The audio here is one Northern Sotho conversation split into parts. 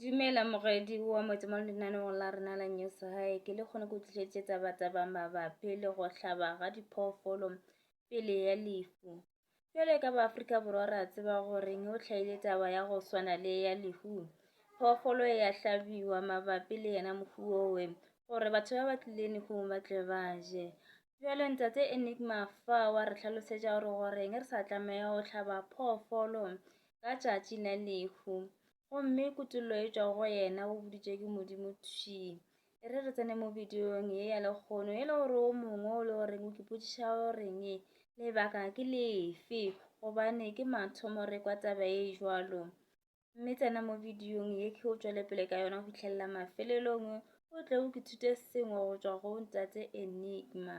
Dumela moredi wa moetse mo lenaneong la rena la news hae ke le kgone go tlišetše taba taba mabapi le go hlaba ga diphoofolo pele ya lefu jwale ka ba Afrika Borwa ra tseba gore ne o tlhaile taba ya go swana le ya lehu phoofolo e ya hlabiwa mabapi le yena mofu owe gore batho ba ba tlileng go ba tle ba je jwale ntate Enigma fa wa re tlhalosetša gore goreng re sa tlameya go hlaba phoofolo ka tšatši la lehu gomme kutollo e tšwa go yena o boditše ke modimo thwi e re re tsene mo bidiong ye ya lekgono e le gore o mongwe o le goreng o kipotšiša goreng lebaka ke lefe gobane ke mathomo re kwa taba e jwalo mme tsena mo bidiong ye ke o tšwele pele ka yona go fitlhelela mafelelong o tle o ke thute sengwe go tšwa go ntate enigma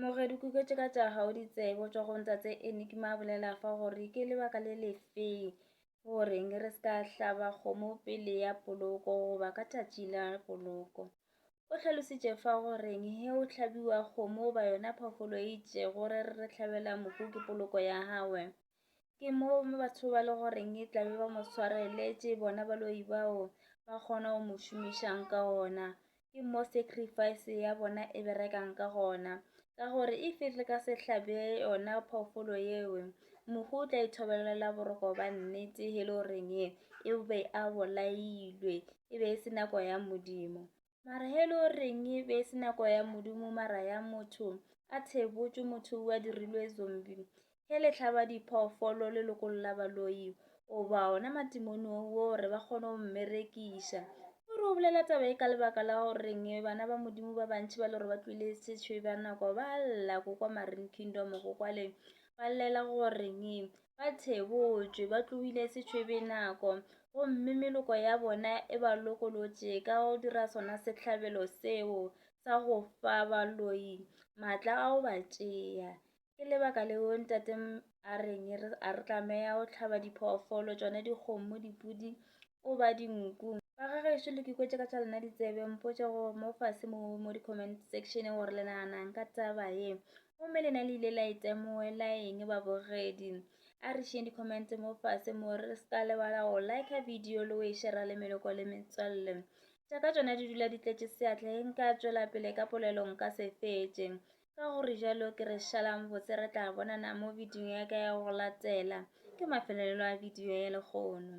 Moge dikuketše ka tša gago di tsebo tšwa go ntatse Enigma a bolela fa gore ke lebaka le lefeng goreng re se ka hlaba kgomo pele ya poloko goba ka tšatši la poloko. O tlhalositše fa goreng he o hlabiwa kgomo ba yona phoofolo e itšego re re tlhabela mohu ke poloko ya gagwe. Ke mo mo batho ba le goreng e tlabe ba mo tshwareletše bona baloi bao ba kgona go mo šomišang ka ona ke mo sacrifice ya bona e berekang ka gona ka gore e fihle ka sehlabe yona phoofolo yeo mohu o tla ithobelela boroko ba nnete e le goreng e be a bolailwe e be e se nako ya modimo Mara he lo reng e be se nako ya Modimo mara ya motho. A thebotšwe motho o a dirilwe zombi. He le tlhaba diphoofolo le lokolla baloi. O ba ona matimoni o gore ba kgone go mmerekiša. O re o bolela taba e ka lebaka la go reng bana ba Modimo ba bantši ba le gore ba tlwile sešwe ba nako ba lla go kwa Marine Kingdom go kwa le ba llela go reng ba thebotšwe ba tlohile setšhwebe nako gomme meloko ya bona e ba lokolotše ka go dira sona sehlabelo seo sa go fa baloi maatla a go ba tšea ke lebaka leo ntate a reng a re tlameya go tlhaba diphoofolo tšone dikgomo dipudi o ba dinku ba ga gešo le kikwetše ka tša lena ditsebe mpotše go mo fase mo mo di-comment section gore le naganang ka taba ye gomme lena le ile la e temoela eng babogedi a re šeng di-commente mo fase mo re se ka lebala go like video le o e šera le meloko le metswalle tša ka tšona di dula di tletše seatla e nka tšwela pele ka polelo nka se fetše ka gore jalo ke re šalang botse re tla bonana mo video ya ka ya go latela ke mafelelelo a video ya lekgono